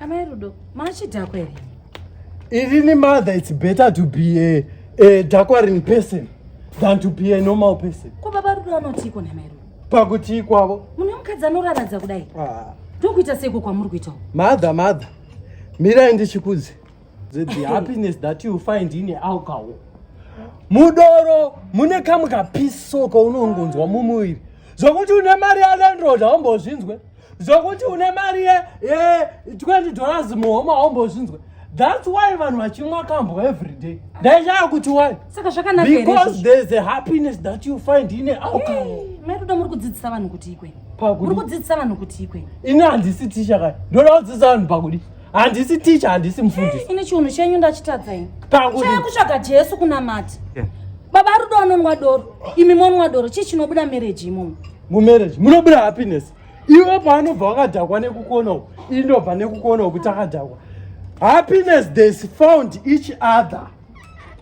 Amai Rudo, machidhakwa here? Irini mother, it's better to be a, a dakwarin person than to be a normal person. Ko baba Rudo anotiiko namai Rudo? Pakutii kwavo? Mune mukadzi anoraradza kudai. Ah. Ndokuita seiko kwamuri kuitawo? Mother, mother, mirai ndichikudze. The, the happiness that you find in alcohol. Mudoro mune kamwe kapiso kaunongonzwa mumuviri zvokuti une mari yalandroda haumbozvinzwe zvokuti une mari ye ye 20 dollars muhoma haumbozvinzwe that's why vanhu vachimwa kambo every day ndaichaya kuti why saka zvakanaka here because izvozvo? there is a happiness that you find in a alcohol Hey, mai rudo muri kudzidzisa vanhu kuti ikwe Pakudi. muri kudzidzisa vanhu kuti ikwe ini handisi ticha kani ndoda kudzidzisa vanhu pakudi handisi ticha handisi mufundisi ini chiunhu chenyu ndachitadza ini Pakudi. chaya kutsvaga jesu kunamata baba rudo anonwa doro imi monwa doro chii chinobuda mereji imomo mumarriage munobuda happiness iwe paanobva wakadhakwa nekukona uku ii ndobva nekukona uku takadhakwa happiness theys found each other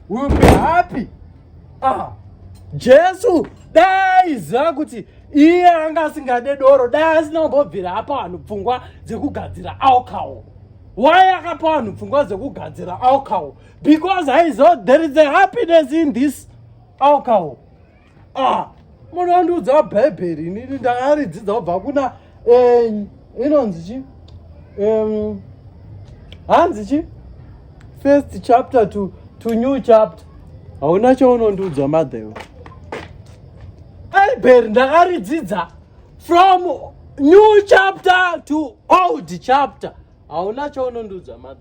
will be happy ah jesu dai ziva kuti iye anga asingade doro dai asina kumbobvira apa vanhu pfungwa dzekugadzira alcohol why akapa vanhu pfungwa dzekugadzira alcohol because aiziva there is a happiness in this alcohol ah munhu andiudzawo bhaibheri inini ndakaridzidza kubva kuna eh, inonzi chi hanzi chi first chapter to, to new chapter hauna chaunondiudza madhewo bhaibheri ndakaridzidza from new chapter to old chapter hauna chaunondiudza madhe